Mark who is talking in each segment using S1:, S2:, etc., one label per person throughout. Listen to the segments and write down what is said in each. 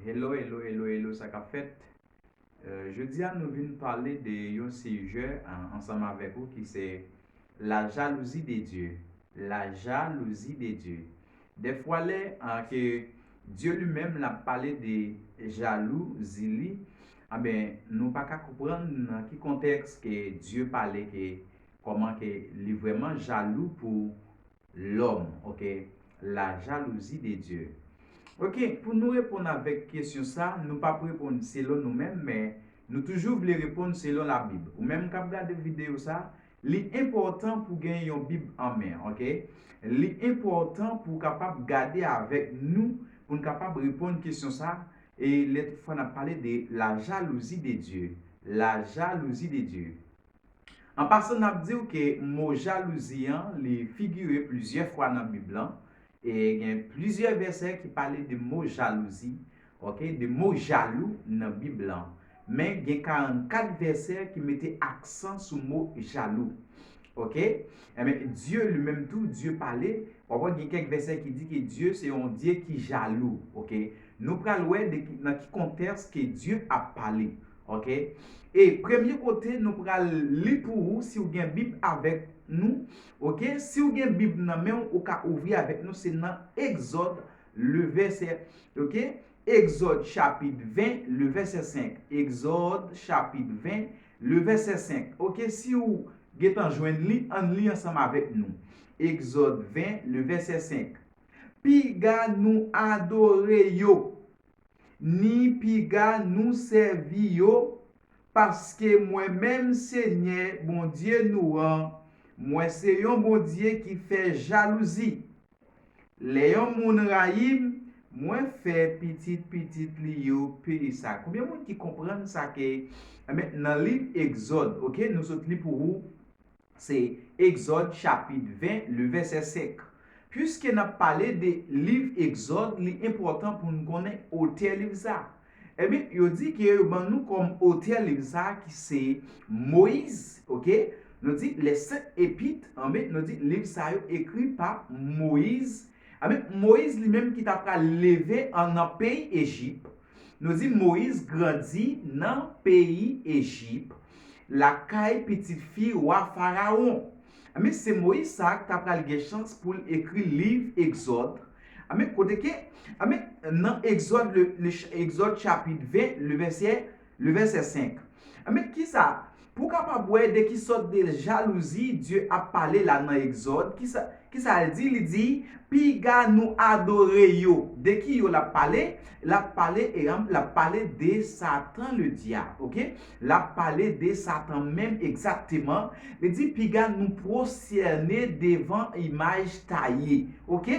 S1: Hello hello hello hello sa kap fèt euh, Jodi a nou vin pale de yon sijè ansanm avèk ou ki se La jalouzi de Dye La jalouzi de Dye De fwa lè an ke Dye li menm la pale de jalou zili Anben nou pa ka kouprann nan ki kontèks ke Dye pale ke Koman ke li vreman jalou pou lom ok la jalouzi de Dieu ok pou nou reponn avek kesyon sa nou pap reponn selon nou menm men nou toujou vle reponn selon la bib ou menm kap gade video sa li enpotan pou gen yon bib an men ok li enpotan pou kapab gade avek nou poun kapab reponn kesyon sa e le tout fwa nap pale de la jalouzi de Dieu la jalouzi de Dieu. An pasan nap diw ke mo jalouzi an li figure plizyè fwa nan bib lan e gen plizyè vèsè ki pale de mo jalouzi ok de mo jalou nan bib lan men gen 44 vèsè ki mete aksan sou mo jalou ok enben Dye li menm tou Dye pale wap wè gen kèk vèsè ki di ke Dye se yon Dye ki jalou ok nou pral wè nan ki kontèks ke Dye ap pale Ok e premye kote nou pral li pou ou si ou gen bib avèk Nou ok si ou gen bib nan menw ou ka ouvri avèk nou se nan egzòd le vèsè ok egzòd chapit 20 le vèsè 5 egzòd chapit 20 le vèsè 5 ok si ou gentan jwenn li ann li ansanm avèk nou egzòd 20 le vèsè 5 piga nou adore yo ni piga nou sèvi yo, paske mwen menm Senyè Bondye nou an, mwen se yon Bondye ki fè jalouzi. Lè yon moun rayi m, mwen fè pitit pitit li yo peye sa. Konbyen moun ki konprann sa ke nan liv Egzòd, ok, nou sot li pou ou, Se Egzòd chapit 20, le vèsè 5. Piske n ap pale de liv Egzòd, li enpòtan pou n konnen otè liv sa a. Enben, yo di ke yo ban nou kòm otè liv sa a ki se Moyiz, oke. Nou di les Saintes Épîtres, anben, nou di liv sa yo ekri pa Moyiz, anben, Moyiz li menm ki ta pral leve an nan peyi Ejip, Nou di Moyiz grandi nan peyi Ejip, lakay pitit fi wa Farawon. Anben, se Moyiz sa a k t apral gen chans pou l ekri liv Egzòd. Anben, kote ke, anben, nan Egzòd, Egzòd chapit 20, levèsè, levèsè 5. Anben kisa Pou kapab wè de ki sòt de jalouzi Dye ap pale la nan Egzòd, kisa kisa l di, li di, piga nou adore yo. De ki yo l ap pale? L ap pale eanm l ap pale de Satan le Dyab ok l ap pale de Satan menm egzakteman li di piga nou pwosyène devan imaj taye ok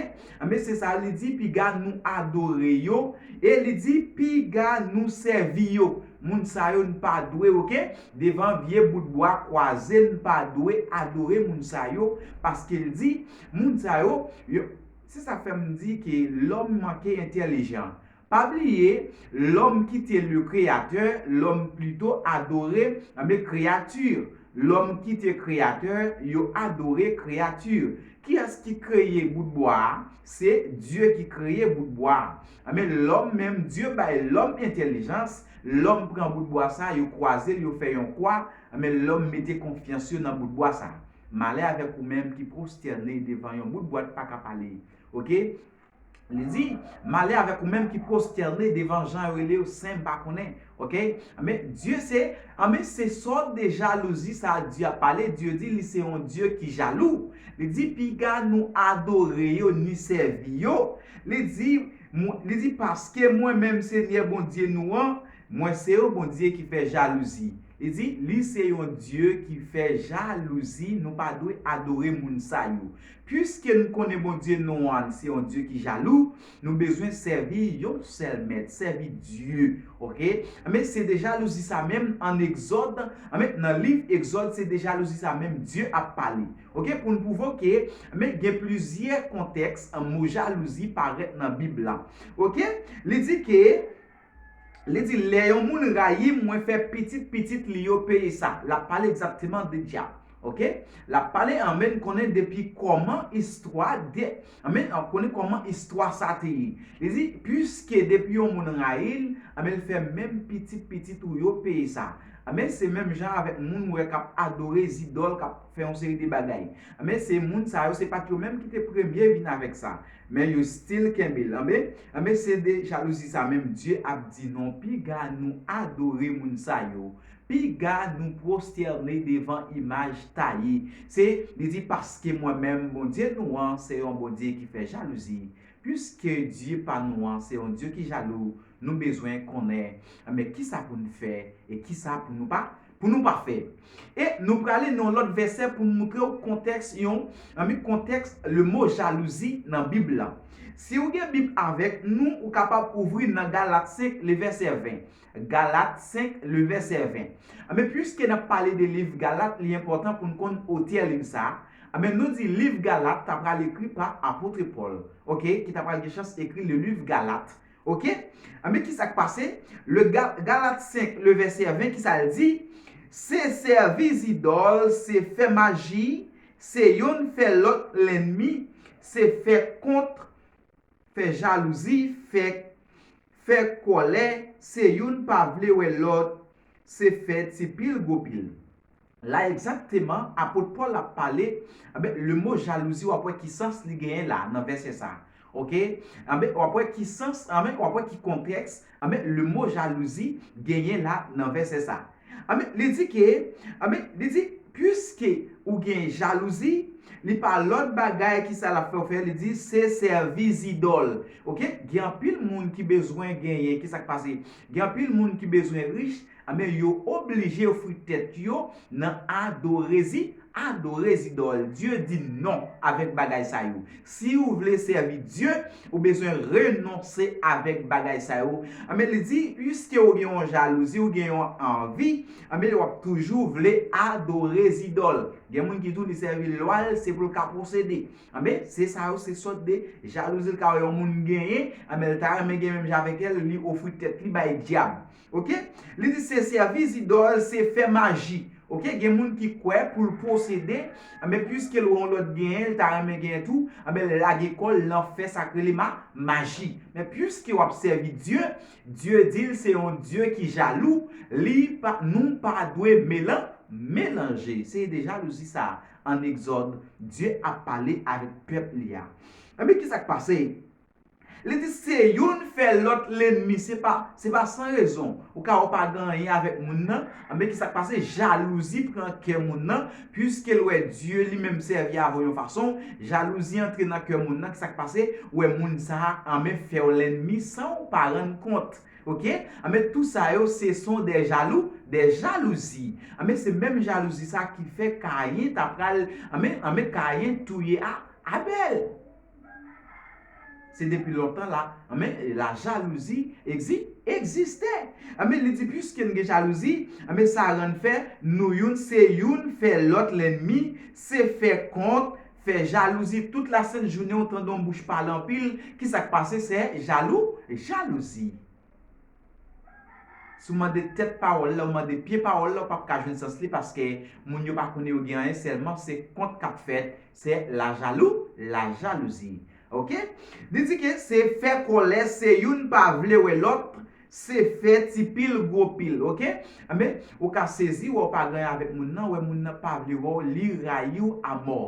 S1: anben se sa li di piga nou adore yo e li di piga nou sèvi yo Moun sa yo n pa dwe ok devan vye bout bwa kwaze n pa dwe adore moun sa yo paske l di moun sa yo yo se sa fè m di ke lòm manke entèlijan pa bliye lòm kite le kreyatè lòm plito adore anbe kreyati lòm kite kreyatè yo adore kreyati kiyès ki kreye bout bwa a se Dye ki kreye bout bwa a Anben lòm menm Dye bay lòm entèlijans, lòm pran bout bwa sa yo kwazel yo fè yon kwa, anben lòm mete konfyans yo nan bout bwa sa. Malè avèk ou menm ki prostène devan yon bout bwa t paka pale ok li di malè avèk ou menm ki prostène devan jan yo rele yo sen m pa konnen Ok anben Dye se anben se sòt de jalouzi sa Dye ap pale Dye di li se yon Dye ki jalou li di piga nou adore yo ni sèvi yo li di li di paske mwen menm Senyè Bondye nou an mwen se yon Bondye ki fè jalouzi li di li se yon Dye ki fè jalouzi nou pa dwe adore moun sa yo piske nou konnen Bondye nou an se yon Dye ki jalou Nou bezwen sèvi yon sèl mèt, sèvi Dye ok. Anben se de jalouzi sa menm an egzòd, anben nan liv egzòd se de jalouzi sa menm Dye ap pale ok pou n pwouve w ke anben gen plizyè kontèks mo jalouzi parèt nan bib la ok li di ke. Li di, Lè yon moun rayi m, mwen fè pitit pitit li yo peye sa. L ap pale egzakteman de Dyab. Oke? L ap pale anben n konnen depi kòman istwa de, anben n konnen kòman istwa sa te ye. Li di, Piske depi yon moun rayi l, anben l fè menm pitit pitit ou yo peye sa. Anben, se menm jan avèk moun ou wè k ap adore zidòl, k ap fè yon seri de bagay. Anben, se moun sa yo, se pa t yo menm ki te premye vin avèk sa. Men yo still kenbe l anbe. Anbe se de jalouzi sa menm Bdye ap di non piga nou adore moun sa yo piga nou prosterne devan imaj taye se li di paske mwen menm Bondye nou an se yon Bondye ki fè jalouzi piske Dye pa nou an se yon Dye ki jalou nou bezwen konnen anbe kisa pou n fè e kisa pou nou pa pou nou pa fè. E nou prale nan yon lòt vèsè pou m moutre w kontèks yon, zanmi kontèks lemo jalouzi nan Bib la. Si ou gen Bib avèk nou, ou kapab ouvri nan Galat 5 le vèsè 20. Galat 5 le vèsè 20. Anben, piske n ap pale de liv Galat, li enpòtan pou n konn otè liv sa a. Anben, nou di liv Galat ta pral ekri pa apotre Pòl. Oke, ki ta pral gen chans ekri le liv Galat. Ok, anben kisa k pase? Le Galat 5, le vèsè 20, kisa l di? Se sèvi zidòl, se fè maji, se youn fè lòt lènmi, se fè kont, fè jalouzi, fè, fè kòlè, se youn pa vle wè lòt, se fè ti pil gwo pil. La egzakteman apot Pòl ap pale, anben, lemo jalouzi w ap wè ki sans li genyen la nan vèsè sa a. Oke? Anben, w ap wè ki sans, anben, w ap wè ki kontèks, anben, lemo jalouzi genyen la nan vèsè sa a. Anben, li di ke, anben, li di, Piske ou gen jalouzi, li pa lòt bagay ki sa l ap fè w fè, li di, se sèvi zidòl. Oke? Gen anpil moun ki bezwen genyen, ki sa k pase? Gen anpil moun ki bezwen rich, Anben yo oblije ofri tèt yo nan adorezi, adore zidòl. Dye di non avèk bagay sa yo. Si ou vle sèvi Dye, ou bezwen renonse avèk bagay sa yo. Anben li di, piske ou gen yon jalouzi, ou gen yon anvi, anben w ap toujou vle adore zidòl. Gen moun ki di w li sèvi lwa l, se pou l ka posede. Anben, se sa yo, se sòt de jalouzi l ka wè yon moun genyen, anben l ta renmen gen menm jan avèk el, li ofri tèt li bay dyab. Ok li di se sèvi zidòl se fè maji ok gen moun ki kwè poul posede anben pwiskel wè yon lòt genyen li ta renmen genyen tou anben l lage kòl lan fè sak rele ma maji men pwiske wap sèvi Dye Dye dil se yon Dye ki jalou li pa nou pa dwe melan melanje se de jalouzi sa an egzòd Dye ap pale avèk pèp li a anben kisak pase Li di se youn fè lòt lenmi se pa se pa san rezon ou ka wè ou pa gen anyen avèk moun nan anben ki sa k pase jalouzi pran kè moun nan piske l wè Dye li menm sèvi avè w yon fason jalouzi antre nan kè moun nan ki sa k pase ou wè moun sa a anben fè w lènmi san w pa rann kont ok anben tou sa yo se son dè jalou dè jalouzi anben se menm jalouzi sa a ki fè Kayen ta pral anben anben Kayen touye a Abèl. Se depi lontan la anben la jalouzi egzi egziste anben li di piske n gen jalouzi anben sa rann fè nou youn se youn fè lòt lènmi se fè kont fè jalouzi tout lasent jounen ou tande yon bouch pale anpil kisa k pase sè jalou jalouzi. Si w mande tèt pawòl la, ou mande pye pawòl la, ou pap ka jwenn sans li paske moun yo pa konnen yo gen anyen sèlman se kont k ap fèt, se lajalou, la jalousie. Ok. Li di ke se fè kòlè, se youn pa vle wè lòt, se fè ti pil gwo pil. Ok. Enben, ou ka sezi wè w pa gen anyen avèk moun nan, wè moun nan pa vle wè w, li rayi w amò.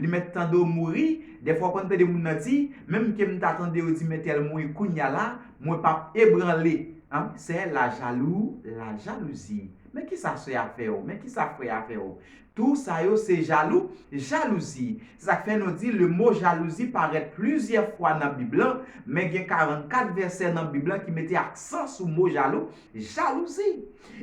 S1: Li mèt tande w mouri, dèfwa w konn tande moun nan di, menm ke m ta tande yo di men tèl mouri kounya la, mwen pap ebranle. An, sè la jalou, la jalouzi. Men kisa sè a fè w, men kisa frè a fè w. Tou sa yo se jalou, jalouzi. Se sa k fè nou di le mo jalouzi parèt plizyè fwa nan Bib lan, men gen 44 vèsè nan Bib lan ki mete aksan sou mo jalou, Jalouzi!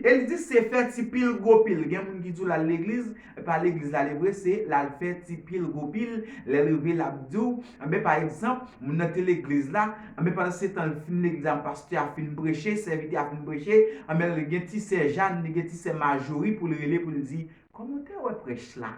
S1: E li di se fè ti pil gwo pil. Gen moun ki di w l al legliz, e pa legliz l ale vre, se l al fè ti pil gwo pil. Lè l rive l ap di w, anben pa egzanp, moun nan te legliz la, anben pandansetan l fin legliz la, pastè a fin preche, sèvitè a fin preche, anben li gen ti sè Jàn, li gen ti sè Majori pou l rele pou l di, Kòman w te wè prèch la?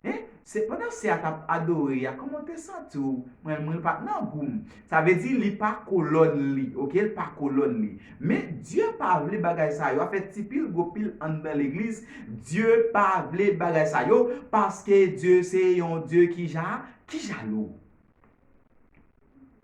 S1: Hein se pandan sè a tap adore ya kòman w te santi w mwen mwen pa nan gou m sa vle di li pa kolòn li ok l pa kolòn li men Dye pa vle bagay sa yo a fè ti pil gwo pil anndan legliz Dye pa vle bagay sa yo paske Dye se yon Dye ki ja ki jalou.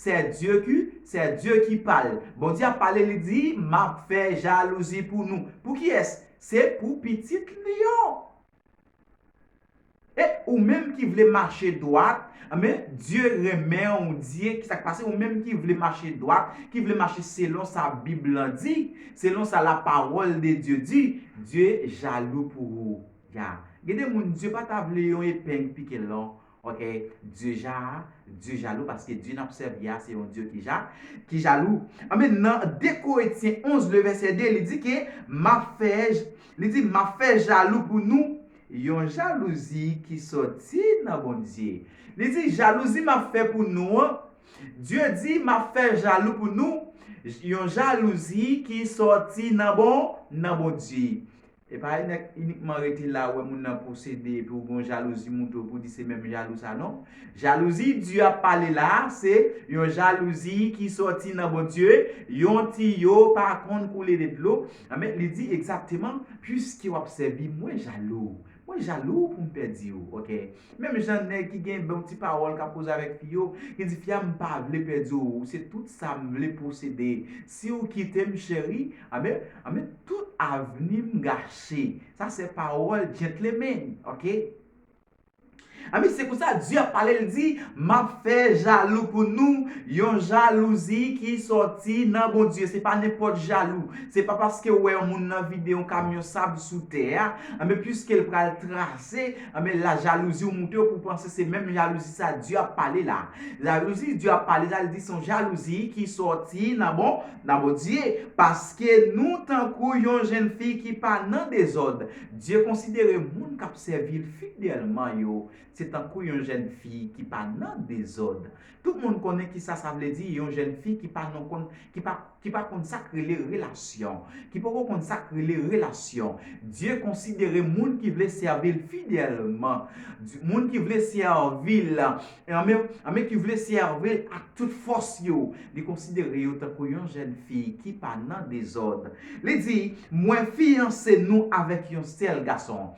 S1: Sè Dieu ki, sè Dieu ki pale. Bondye ap pale li di map fè jalouzi pou nou. Pou kiyès? Se pou pitit li yo. E ou menm ki vle mache dwat, anben Dieu renmen ou Dieu ki sak pase ou menm ki vle mache dwat, ki vle mache selon sa bib lan di, selon sa la parole de Dieu di, Dieu jalou pou ou. Ya. Gen de moun Dieu pa ta vle yon epeng pike l non. Ok Dye Ja a, Dye jalou paske Dye nap sèvi a se yon Dye ki ja, ki jalou. Anben nan 2 Koretyen 11 le vèsè 2 li di ke map fè, li di map fè jalou pou nou yon jalouzi ki sòti nan Bondye. Li di jalouzi map fè pou nou an, Dye di map fè jalou pou nou yon jalouzi ki sòti nan bon, nan Bondye. Epa inikman rete la ou wè moun nan posede epi ou gen yon jalouzi moute ou epi ou di se menm jalou sa non. Jalouzi Dieu ap pale la a se yon jalouzi ki sòti nan Bondye, yon tiyo pa konn koule de dlo, anben li di egzakteman, puiske wap sèvi mwen jalou, mwen jalou poum pèdi ou ok. Menm jan nèg ki gen bon ti pawòl kap koze avèk fi yo, ki di fi a m pa vle pèdi w, ou se tout sa m vle posede, si w kite m cheri, anben, anben tout avni m gache. Sa se pawòl gentleman, ok. Anben se konsa Di ap pale, li di, m ap fè jalou pou nou, yon jalouzi ki sòti nan Bondye, se pa nenpòt jalou, se pa paske w wè yon moun nan vide yon kamyon sab sou tè a, anben piske l pral trase, Anben la jalouzi ou moute ou pou panse se menm jalouzi sa Dye ap pale la. Jalouzi Dye ap pale la li di son jalouzi ki sòti nan bon nan Bondye. Paske nou tankou yon jenn fi ki pa nan dezòd. Dye konsidere moun kap sèvi l fidelman yo se tankou yon jenn fi ki pa nan dezòd. Tout moun konnen kisa sa vle di yon jèn fi ki pa non konn ki pa ki pa konn sak rele relasyon ki poko konn sak rele relasyon Dye konsidere moun ki vle sèvil fidèlman Dye moun ki vle sèvil anmè anmè ki vle sèvil ak tout fòs yo li konsidere yo tankou yon jèn fi ki pa nan dezòd li di mwen fiyanse nou avèk yon sèl gason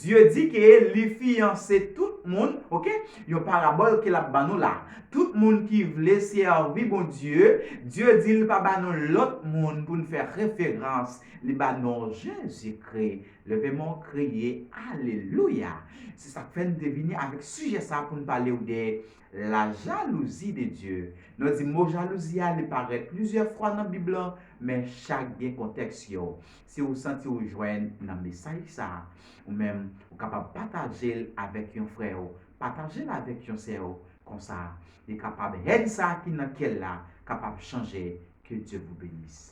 S1: Dye di ke li fiyanse tout moun, ok, yon parabòl ke l'ap ban nou la. Tout moun ki vle sèvi Bondye, Dye di li pa ba nou lòt moun pou nou fè referans, li ba nou Jezikri. Leve men w kriye, Alelouya! Se sa k fè nou te vini avèk sijè sa pou nou pale w de La jalousie de Dieu. Nou di mo jalouzi a li parèt plizyè fwa nan bib lan men chak gen kontèks yo. Si ou santi ou jwenn nan mesaj sa, ou menm ou kapab pataje l avèk yon frè ou, pataje l avèk yon sè ou, konsa li kapab haine sa ki nan kè l la kapab chanje que Dieu vous benisse.